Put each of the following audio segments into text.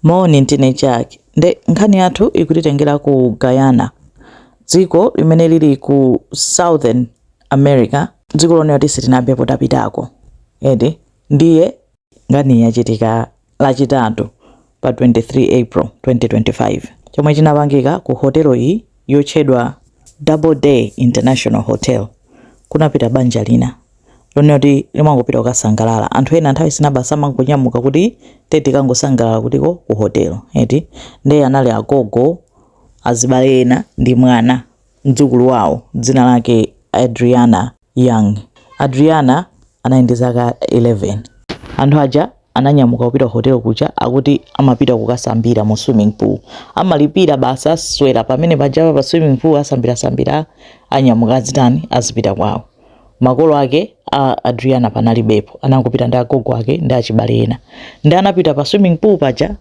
Moni, ndine Jack. Nde nkhani yathu ikutitengera ku Guyana, dziko limene lili ku Southern America. Dziko lonena kuti sitinayambepo tapitako eti. Ndiye nkhani yachitika Lachitatu pa 23 April 2025. Chomwe chinapangika ku hotelo iyi yotchedwa Double Day International Hotel, kunapita banja lina. lonena kuti limangopita kukasangalala anthu ena nthawi zina basi amangonyamuka kuti tikangosangalala kutiko ku hotelo eti ndiye anali agogo azibale ena ndi mwana mdzukulu wawo dzina lake adriana young adriana anali ndi zaka 11 anthu aja ananyamuka kupita ku hotelo kuja akuti amapita kukasambira mu swimming pool amalipira basi aswera pamene pajapa pa swimming pool asambirasambira anyamuka azitani azipita kwawo makolo ake a adriana panalibepo anangopita ndi agogo ake ndi achibale ena nde anapita pa swimming pool paja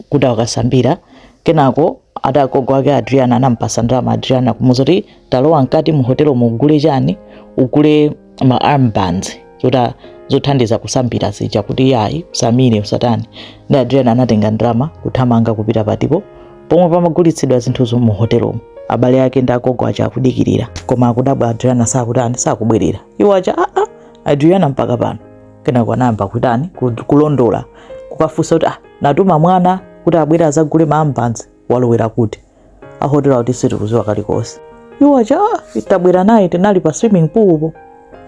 kuti akasambira kenako ati agogo ake a adriana anampasa ndalama adriana kumuuza kuti talowa mkati mu hotelomu ugule chani ugule ma armbands zota zothandiza kusambira zija kuti yayi usamire usatani nde adriana anatenga ndalama kuthamanga kupita patipo pomwe pamagulitsidwa zinthuzo mu hotelomo abale ake ndi agogo aja akudikirira koma akudabwa adriana sakutani sakubwerera iwo aja aa adriana mpaka pano kenako anayamba kutani kulondola kukafunsa kuti ah, tatuma mwana kuti abwere azagule ma armbands walowera kuti a hotelo akuti sitikuziwa kalikonse iwo aja ah, ife tabwera naye tinali pa swimming poolpo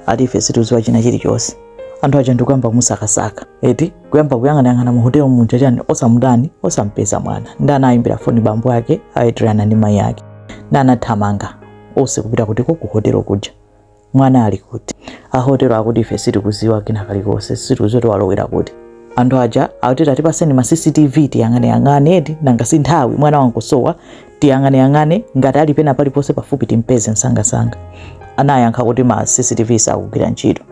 ati ife sitikuziwa china chilichonse anthu aja ndikuyamba kumusakasaka eti kuyamba kuyang'anayang'ana mu hotelo muja chani osamutani osampeza mwana nde anayimbira foni bambo ake a adriana ndi mayi ake nde anathamanga onse kupita kutiko ku hotelo kuja Mwana ali kuti? A hotelo akuti ife sitikuziwa kina kalikonse, sitikuziwa kuti walowera kuti. Anthu aja akuti tatipaseni ma CCTV tiyang'aneyang'ane eti nanga si nthawi mwana wangosowa tiyang'aneyang'ane ngati ali pena paliponse pafupi timpeze msangasanga. Anayankha kuti ma CCTV sakugwira ntchito.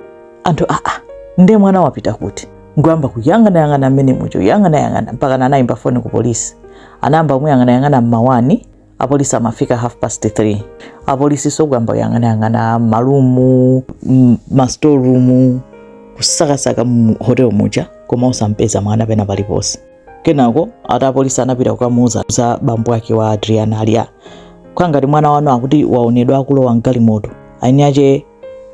Anthu aa, ah, ah, nde mwana wapita kuti? Nkuyamba kuyang'anayang'ana mmene muja yang'anayang'ana mpaka anayimba foni ku polisi. Anayamba kumuyang'anayang'ana mma 1 apolisi amafika half past 3 apolisi nso kuyamba kuyang'anayang'ana ma room m- mastoreroom kusakasaka mu hotel muja koma osampeza mwana pena paliponse kenako ati apolisi anapita kukamuuzano bambo ake wa adriana aliyekha kuti mwana wanu akuti waonedwa akulowa mgalimoto eni ake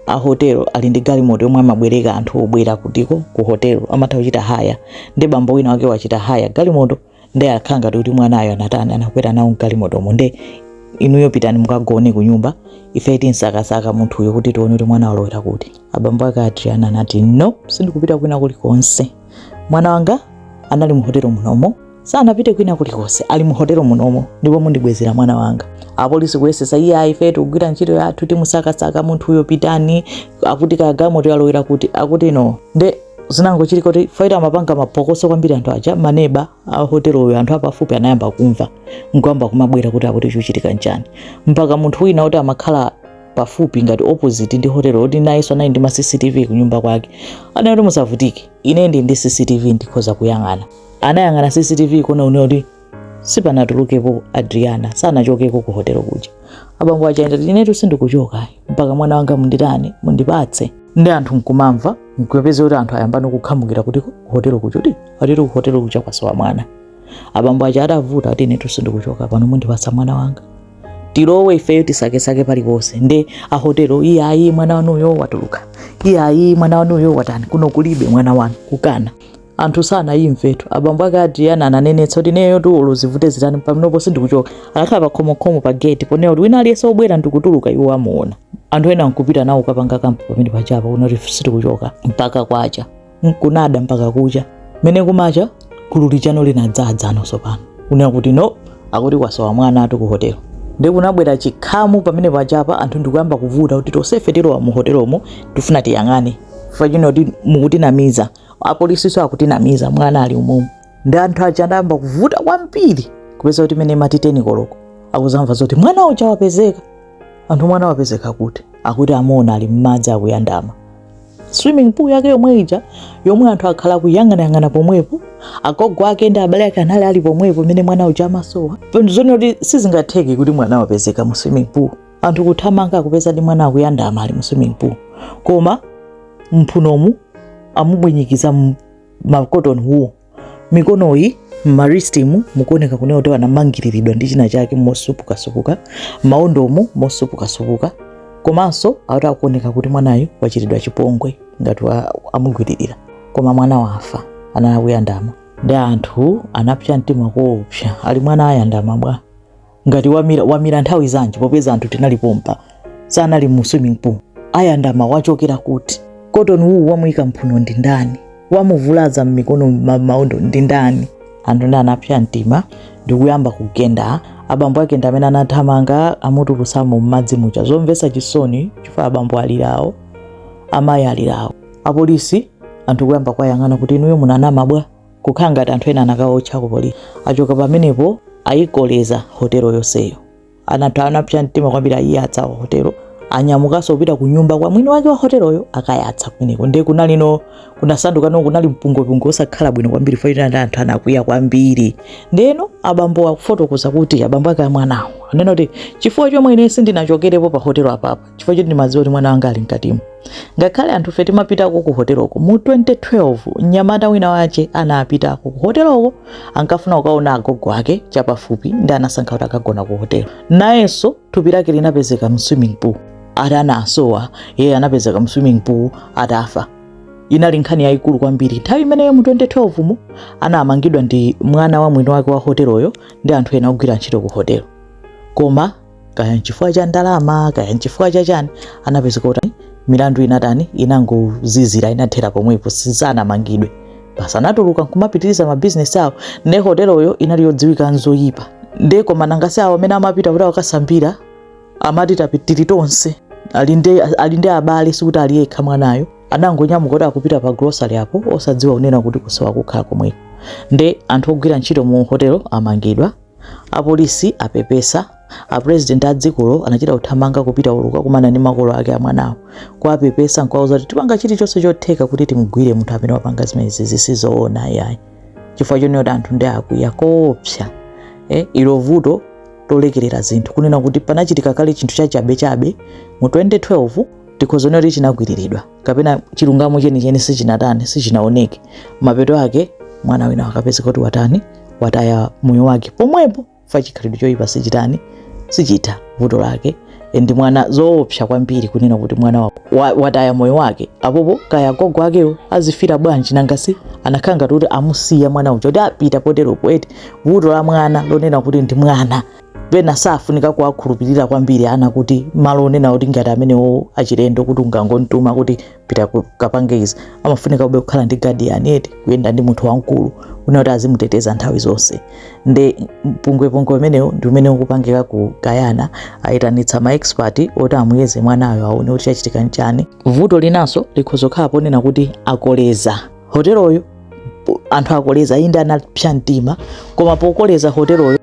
a hotelo ali ndi galimoto yomwe amabwereka anthu obwera kutiko ku hotelo amatha kuchita hire nde bambo wina wake wachita hire galimoto nde akhala ngati kuti mwanayo anatani anakwera nawo mgalimotomo nde inuyo pitani mukagone kunyumba ife tinsakasaka munthuyo kuti tione kuti mwana walowera kuti abambo ake adriana anati no sindikupita kwina kulikonse mwana wanga anali muhotelo munomo sanapite kwina kulikonse ali muhotelo munomo ndipo mundibwezera mwana wanga apolisi kuyesesa iye ayi ife tikugwira ntchito yathu timusakasaka munthuyo pitani akuti kagalimoto yalowera kuti akuti no nde zinangochitika kuti fight amapanga mapokoso kwambiri anthu aja maneba a hoteloyo anthu apafupi anayamba kumva nkuyamba kumabwera kuti akuti chochitika nchani mpaka munthu wina kuti amakhala pafupi ngati opposite ndi hotelo kuti nayenso anali ndi ma cctv kunyumba kwake anali kuti musavutike ine ndili ndi cctv ndikhoza kuyang'ana anayang'ana cctv kuona kunena kuti sipanatulukepo adriana sanachokeko ku hotelo kuja abambo aja ndati inetu sindikuchoka mpaka mwana wanga munditani mundipatse nde anthu nkumamva nkupeza kuti anthu ayambano kukhamukira kuti ku hotelo kuja kuti atero ku hotelo kuja kwasowa mwana abambo aja adavuta ati inetu sindikuchoka pano mundipatsa mwana wanga tilowe ifeyo tisakesake paliponse nde ahotelo iyayi mwana wanuyo watuluka iyayi mwana wanuyo watani kuno kulibe mwana wanu kukana anthu sanayimvetu abambo ake adriana ananenetsa kuti ineyotu olo zivute zitani panopo sindikuchoka anakhala pa khomokhomo pa gate ponena kuti wina aliyense obwera ndikutuluka iwo amuona anthu ena nkupita nawo kapanga kampu pamenepajapa kunena kuti sitikuchoka mpaka kwacha nkunada mpaka kucha mene kumacha gulu lijano linadzadzana nso pano kunena kuti no akuti kwasowa mwana atu ku hotelo nde kunabwera chikhamu pamenepajapa anthu ndikuyamba kuvuta kuti tosefe tilowa mu hotelomo tifuna tiyang'ane ifeyo chifukwa mukutinamiza apolisiso akutinamiza mwana ali umomo nde anthu aja adayamba kuvuta kwambiri kupeza kuti mene imati teni koloko akuzamva zoti mwana uja wapezeka anthu mwana wapezeka kuti akuti amuona ali mmadzi akuyandama swimming pool yake yomwe ija yomwe anthu akhala kuyang'anayang'ana pomwepo agogo ake ndi abale ake anali ali pomwepo mene mwana uja amasowa zoona kuti sizingatheke kuti mwana wapezeka mu swimming pool anthu kuthamanga akupezadi mwana akuyandama ali mu swimming pool koma mphunomu amubwinyikiza ma cotton wool mikonoyi mma wristimu mukuoneka kunena kuti anamangiriridwa ndi china chake mosupukasupuka maondomu mosupukasupuka komanso akuti akuoneka kuti mwanayu wachitidwa chipongwe ngati wa- amugwiririra koma mwana wafa anali akuyandama nde anthu anapsa mtima koopsa ali mwana ayandama bwa ngati wamira wamira nthawi zanji popeza anthu tinali pompa sanali mu swimming pool ayandama wachokera kuti cotton wool wamuyika mphuno ndi ndani wamuvulaza m'mikono ma- maondo ndi ndani anthu nde anapsa mtima ndikuyamba kugenda abambo ake ndi amene anathamanga amutulutsamo m'madzi muja zomvetsa chisoni chifukwa abambo alirawo amayi alirawo apolisi anthu kuyamba kuwayang'ana kuti inuyo munanama bwa kukhala ngati anthu ena anakaotcha ku polisi achoka pamenepo ayikoleza hotelo yonseyo anthu anapsa mtima kwambiri ayiyatsa hotelo anyamukanso kupita ku nyumba kwa mwini wake wa hoteloyo akayatsa kumeneko ndiye kunalino kunasandukano kunali mpungopungo osakhala bwino kwambiri fa ndi anthu anakwiya kwambiri ndeno abambo akufotokoza kuti abambo ake amwanawo anena kuti chifukwa chomwe ine sindinachokerepo pa hotelo apapa chifukwa choti ndimadziwa kuti mwana wanga ali mkatimo ngakhale anthufe timapitako ku hoteloko mu 2012 mnyamata wina wake anapitako ku hoteloko ankafuna kukaona agogo ake chapafupi ndi anasankha kuti akagona ku hotelo nayenso thupi lake linapezeka mu swimming pool atasowa iye anapezeka mu swimming pool atafa inali nkhani yayikulu kwambiri nthawi imeneyo mu 2012 mu anamangidwa ndi mwana wa mwini wake wa hoteloyo ndi anthu ena ogwira ntchito ku hotelo koma kaya nchifukwa cha ndalama kaya nchifukwa cha chani anapezeka kuti milandu inatani inangozizira inathera pomwepo sanamangidwe basi anatuluka nkumapitiriza mabizinesi awo ne hoteloyo inali yodziwika nzoyipa nde koma nanga si awo amene amapita kuti akasambire amati tili tonse ali ndi- ali ndi abale sikuti ali yekha mwanayo anangonyamuka kuti akupita pa grocery apo osadziwa kunena kuti kusowa kukhala komweko nde anthu ogwira ntchito mu hotelo amangidwa A polisi apepesa, a president a dzikolo anachita kuthamanga kupita uko kukakumana ndi makolo ake a mwanawo, kuwapepesa nkuwauza kuti tipanga chilichonse chotheka kuti timugwire munthu amene wapanga zimenezi, si zoona ayi, chifukwa chonena kuti anthu ndi akwiya koopsa. Eh, ilo vuto lolekerera zinthu kunena kuti panachitika kale chinthu chachabechabe mu 2012 tikhoza kunena kuti chinagwiriridwa. kapena chilungamo chenicheni sichinatani sichinaoneke mapeto ake mwana wina akapezeka kuti watani wataya moyo wake pomwepo fa chikhalidwe choyipa sichitani sichitha vuto lake ndi mwana zoopsa kwambiri kunena kuti mwana wa, wa, wataya moyo wake apopo kaya gogo akewo azifila bwanji nanga si anakhala ngati kuti amusiya mwana uja kuti apita poteropo eti vuto la mwana lonena kuti ndi mwana pena safunika kuwakhulupirira kwambiri ana kuti malo onena kuti ngati amenewo achilendo kuti ungangomtuma kuti pita ku- kapange izi amafunikabe kukhala ndi guardian eti kuyenda ndi munthu wamkulu wina kuti azimuteteza nthawi zonse nde mpungwepungwe umenewo ndi umene ukupangika ku guyana ayitanitsa ma expert oti amuyeze mwanayo aone kuti chachitika nchani vuto linanso likhoza kukhala ponena kuti akoleza hoteloyo anthu akoleza inde anapsa mtima koma pokoleza hoteloyo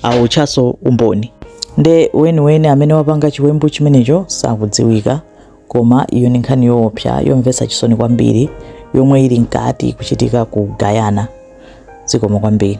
awotchanso umboni nde weniweni amene wapanga chiwembu chimenecho sakudziwika koma iyo ni nkhani yoopsa yomvetsa chisoni kwambiri yomwe ili mkati kuchitika ku guyana zikomo kwambiri